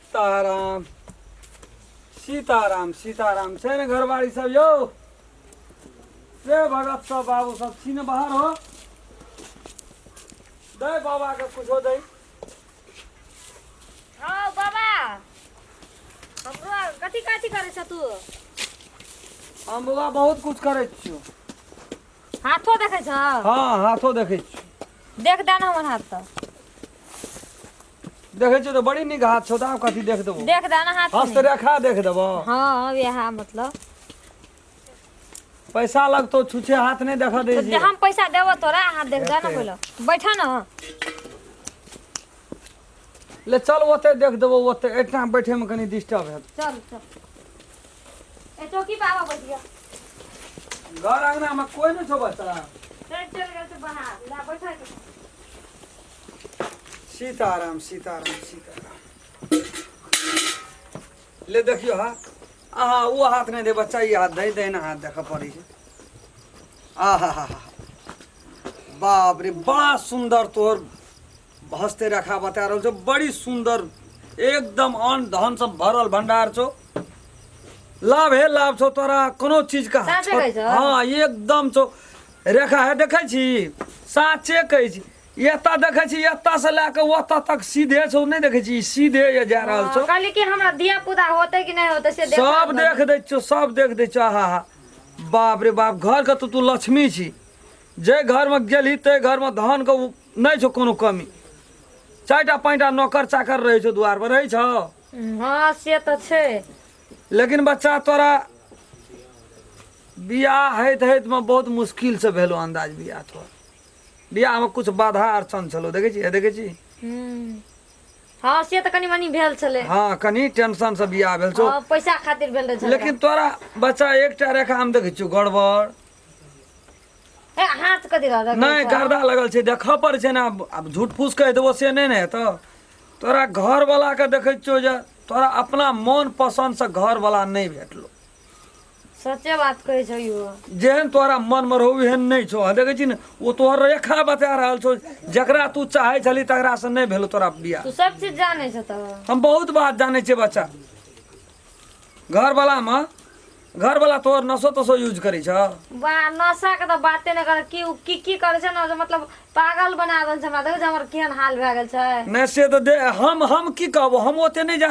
सीताराम सीताराम सीताराम छै ने घरवाली सब यौ से भगत सब बाबू सब छी ने बाहर हो दै बाबा के कुछो दै हौ बाबा हमरो कथी कथी करै छ तू हम बाबा बहुत कुछ करै छियो हाथो देखै छ हाँ हाथो देखै छियो देख दे न हमर हाथ तऽ देखै छियौ तऽ बड़ी नीक हाथ छौ तऽ आब कथी देख देबौ देख दे ना हाथ हस्त में रेखा देख देबौ हाँ अब यहाँ मतलब पैसा लगतौ छुछे हाथ नहि देखऽ दै तो छियै हम पैसा देबो तोरा हाथ देख दे ना एते। बोलो बैठा ना ले चल ओते देख देबौ ओते एहिठाम बैठेमे कनि डिस्टर्ब हेतौ चल चल ए चौकी पे आवा बैठ गया घर अङ्गनामे कोइ नहि छौ बच्चा चल चल गया तो बाहर ला बैठा के सीताराम सीताराम सीताराम ले देखियो हा अहाँ ओ हाथ नहि दे बच्चा ई हाथ दे दहिना हाथ देखऽ पड़ै छै आहा हा हा बाप रे बड़ा सुंदर तोहर हस्ते रखा बता रहल छौ बड़ी सुंदर एकदम अन्न धन से भरल भंडार छौ लाभ हे लाभ छौ तोरा कोनो चीज का साँचे कहै छौ? हाँ एकदम छौ रेखा है देखै छी साँचे कहै छी एतऽ देखै छी एतऽ से लए के ओतऽ तक सीधे छौ नहि देखै छी ई सीधे ये जा रहल छौ कहली कि हमरा धिया पुता होते कि नहीं होते से देखा सब दो। देख दै छौ सब देख दै छौ आहा हा बाप रे बाप घर के तो तू लक्ष्मी छी जे घर में गेलही ते घर में धन के उ- नहि छौ कोनो कमी चारिटा पाँचटा नौकर चाकर रहै छौ दुआर पर रहै छौ हाँ से तो छे लेकिन बच्चा तोरा बियाह होइत होइत में बहुत मुश्किल से भेलो अंदाज बियाह तोहर बियाह मे कुछ बाधा अड़चन छलौ देखै छी हे देखै छी हूँ हँ से तऽ कनि मनि भेल छलै हँ कनि टेंशन से बियाह भेल छौ हँ पैसा खातिर भेल रहै झगड़ा लेकिन तोरा बच्चा एकटा रेखा हम देखै छियौ गड़बड़ ए हाथ कथी रह नहि गर्दा लगल छै देखऽ पड़ै छै ने आब आब झूठ फूस कहि देबो से नहि ने हेतौ तोरा घरवला के देखै छियौ जे तोरा अपना मन पसन्द से घरवला नहि भेटलो सच्चे बात कहै छौ यौ जेहन तोरा मन में रहू एहन नहीं छो देखे छी ने ओ तोहर रेखा बता रहल छो जकरा तू चाहे छली तकरा से नहीं भेलो तोरा बियाह तू सब चीज जाने छ त हम बहुत बात जाने छे बच्चा घर वाला में घर वाला तोहर नसो तसो यूज करे छ बा नशा के त बाते न कर की उ की की करे छै न जे मतलब पागल बना देल छै हमरा देखै छै हमर केहन हाल भए गेल छै नहीं से तो दे हम हम की कहबो हम ओते नहीं जा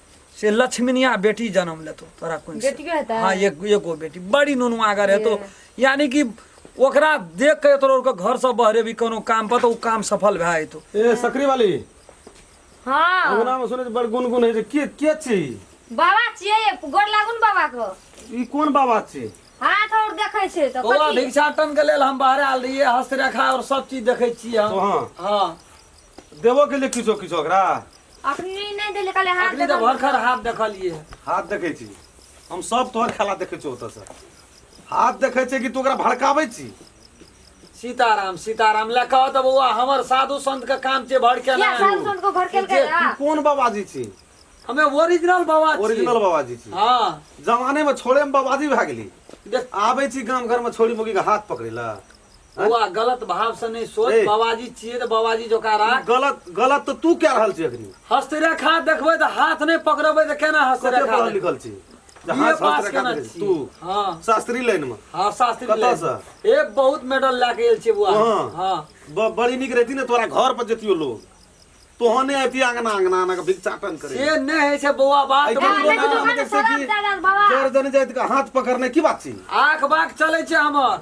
से लक्ष्मीनिया बेटी जन्म लेतो तोरा कोन से? बेटियो हेतै? हाँ एक एगो बेटी बड़ी नुनवागर हेतो यानी कि ओकरा देख के तोरा ओकर घर से बहरे भी कोनो काम पर तो उ काम सफल भए जेतो ए सकरी वाली हाँ अंगना में सुने बड़ गुनगुन है जे के के छी बाबा छियै गोर लागू ने बाबा को ई कोन बाबा छी हाथ और देखै छै तऽ बौआ कथी? भिक्षाटन के लेल हम बाहर आयल रहिए हस्तरेखा और सब चीज देखे छिए तो हम हाँ हाँ देबो के लिए किछो किछो ओकरा अखनी नहि देले कहले हाथ अखनी दे तऽ भरखर हाथ देखलियै हाथ देखै छी हम सब तोहर खेला देखै छियौ ओतऽसँ हाथ देखै छियै कि तू ओकरा भड़काबै छी सीताराम सीताराम लए कहऽ तऽ बौआ हमर साधु संत के काम छै भर के या साल सुन को भड़केल के तू हाँ। कोन बाबाजी छी हमे ओरिजिनल बाबा छी ओरिजिनल बाबाजी छी हाँ जमाने में छोड़े में बाबाजी भए गेली देख आबै छी गाम घर में छोड़ी मुगी के हाथ पकड़े ला बौआ गलत भाव से नहीं सोच ए। बाबाजी छिए तो बाबाजी जोका राख गलत गलत तो तू क्या रहल छी अखनी हस्तरेखा देखबै तऽ हाथ नहि पकड़बै तऽ केना कते हस्तरेखा पढ़ल देखबै? लिखल छी जे बीए हाथ पास हाथ केना रेखा छी? तू हँ शास्त्री लाइन में हँ शास्त्री कतऽ लाइन। सँ? ए बहुत मेडल लए के आयल छियै बुआ कहाँ? हँ ब- बड़ी नीक रहती ने तोरा घर पर जतियो लोग तोहने अति अंगना अंगना अंगना के भिक्षाटन करे से नहि होइ छै बौआ बात ऐके बुझू लोग ने। आदमी के देखै छी कि जर जन जाइत के हाथ पकड़ने की बात छी आख बाख चलै छै हमर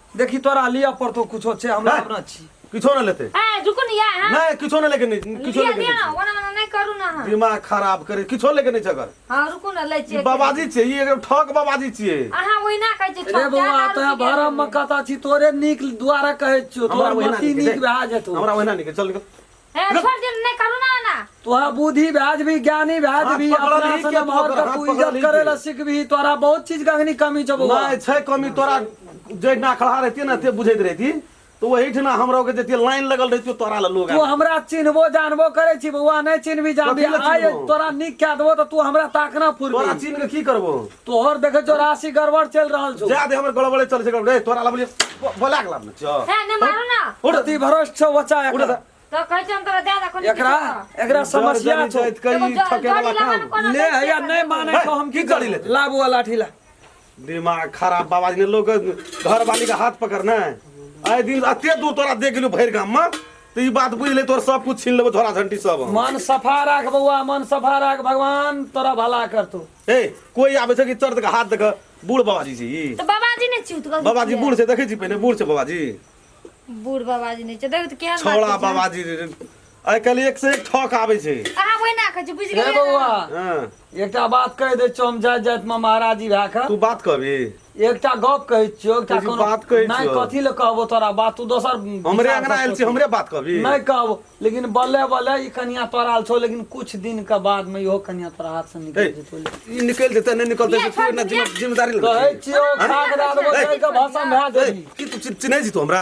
देखी तोरा लिया पड़तो कुछो छे हमरा अपना छी किछो ना लेते ए रुको ना यार हां नहीं किछो ना लेके नहीं किछो लेके नहीं ओना ओना नहीं करू ना हां दिमाग खराब करे किछो लेके नहीं जगर हां रुको ना ले छी बाबाजी छे ई एकदम ठक बाबाजी छे अहा ओइ ना कहै छी अरे बौआ त भरम में कथा छी तोरे नीक द्वारा कहै छी तोरा मती नीक भा जेतो हमरा ओहिना नीक चल निकल ए रुक। छोड़ दिन नहीं करू ना ना तोहर बुद्धि भ्याज भी ज्ञानी भ्याज हाथ भी पकड़ल अपना ही से के मोहर पकड़, पर हाथ तू पकड़ल इज्जत ही करे के। ला सीख भी तोरा बहुत चीज गंगनी कमी जब नहीं छै कमी तोरा जे ना खड़ा रहती ना ते बुझैत रहती तो वही ठना हमरा के जते लाइन लगल रहती तोरा ला लोग तू आबे। हमरा चिन्हबो जानबो करे छी बौआ नहीं चिन्हबी जानबी कथी ला आय चिन्हबो? तोरा नीक कह देबो तो तू हमरा ताकना तोरा फुरबी चिन्ह के की करबो तोहर देखे छो राशि गड़बड़ चल रहल छो जा दे हमर गड़बड़े चल छै रे तोरा ला बोलिए बोला के लाबने छो है ना मारो ना उठ ती भरोस छो बच्चा उठ एकरा तो कहै छै हम तोरा दे दे कोन एकरा एकरा समस्या जड़ छो जड़ जाइत कई एगो जड़- ठके वाला जड़ी लगाना काम कोनो ले समस्या हैया नहीं माने है, छो हम की की करी करी लेते? लाबू वाला लाठी ला दिमाग खराब बाबा जी ने लोग घर वाली का हाथ पकड़ना है आए दिन अते दूर तोरा देख गेलू भैर गाम में तो ई बात बुझ ले तोर सब कुछ छीन लेबो झोरा झंटी सब हम। मन सफा राख बउआ मन सफा राख भगवान तोरा भला करतो हे कोई आबे छै कि चर्द के हाथ देख बूढ़ बाबाजी छी ई तो बाबाजी ने चूत गल बाबाजी बूढ़ से देखै छी पहिले बूढ़ से बाबाजी बूढ़ बाबाजी ने छै देखो तो केहन बात छौड़ा छै। बाबाजी रे रे। आइ काल्हि एक से एक ठक आबै छै अहाँ वही ना कहे बुझ हे गेलिए बौआ हँ एकटा बात कहि दै छौ हम जाइत जाइत मे महाराजी भए कऽ तू बात कहबी एकटा गप कहै छियौ एकटा कहै छी कोनो बात कहै नहि छियौ कथी लए कहबौ तोरा बात तू दोसर हमरे विचार अङ्गना सँ आयल छी सोचही हमरे बात कहबी नहि कहबौ लेकिन बल्ले बल्ले ई कनिया तोरा आयल छौ लेकिन कुछ दिन के बाद मे इहो कनिया तोरा हाथ से निकलि जेतौ ई निकलि जेतै नहि निकलतै से तू एना जिम्मे- जिम्मेदारी नहि कहै छियौ खाक दए देबौ जरि कऽ भसम भए जेबही की तू चिन्ह- चिन्है छी तू हमरा